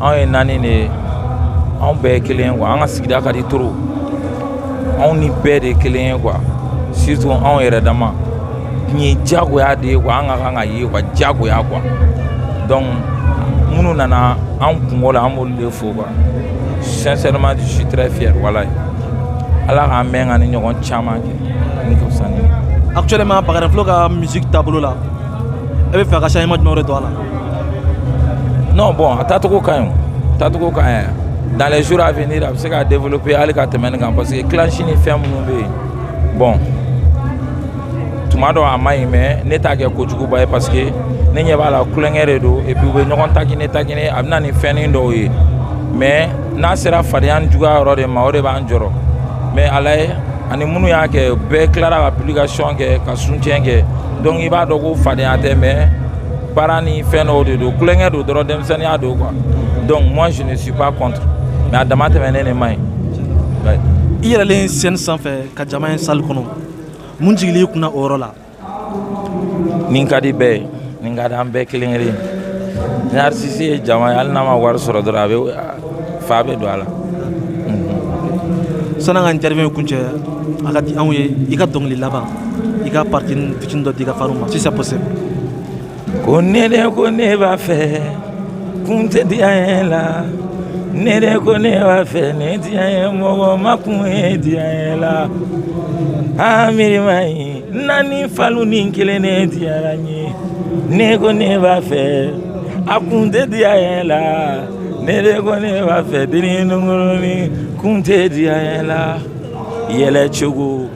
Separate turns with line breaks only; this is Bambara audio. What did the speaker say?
anw ye naani de ye anw bɛɛ ye kelen ye quoi an ka sigida ka di trop anw ni bɛɛ de ye kelen ye quoi surtout anw yɛrɛ dama nin ye diyagoya de ye quoi an ka kan ka ye quoi diyagoya quoi donc minnu nana an kunko la an b'olu de fo quoi sincèrement je suis très fier walayi ala k'an mɛɛn ka nin ɲɔgɔn caman kɛ ni ka fisa ni actuellement bagarɛnfilo ka musique taabolo la e b'a fɛ ka changement jumɛn de don a la non bon a taacogo ka ɲi taacogo ka ɲi dans les jours à venir a bɛ se ka développer hali ka tɛmɛ nin kan parce que clash ni fɛn minnu bɛ yen bon tuma dɔ a man ɲi mais ne t'a kɛ kojuguba ye parce que ne ɲɛ b'a la tulonkɛ de don et puis u bɛ ɲɔgɔn taquiner taquiner a bɛ na ni fɛnnin dɔw ye mais n'a sera fadenya ni juguya yɔrɔ de ma o de b'an jɔrɔ mais a lajɛ ani minnu y'a kɛ bɛɛ tilara ka publication kɛ ka soutien kɛ donc i b'a dɔn ko fadenya tɛ mais Para ni fɛn dɔw de don tulonkɛ don dɔrɔn denmisɛnninya don quoi donc moi je ne suis pas contre mais a dama tɛmɛnen de man ɲi i yɛlɛlen scène sanfɛ ka jama ye salle kɔnɔ mun jigili i kunna o yɔrɔ la nin ka di bɛɛ ye nin ka di an bɛɛ kelen kelen ni artiste ye jama ye hali n'a ma wari sɔrɔ dɔrɔn a bɛ fa bɛ don a la san'an ka interview kuncɛ a ka di anw ye i ka dɔnkili laban i k'a partie Fitini dɔ d'i ka fanw ma si c'est possible Ko ne de ko ne b'a fɛ kun tɛ diyanye la ne de ko ne b'a fɛ ne diyanye mɔgɔ ma kun ye diyanye la aa miiri man ɲi naani falu nin kelen ne diyara n ye ne ko ne b'a fɛ a kun tɛ diyanye la ne de ko ne b'a fɛ denin nungurunin kun tɛ diyanye la yɛlɛ cogo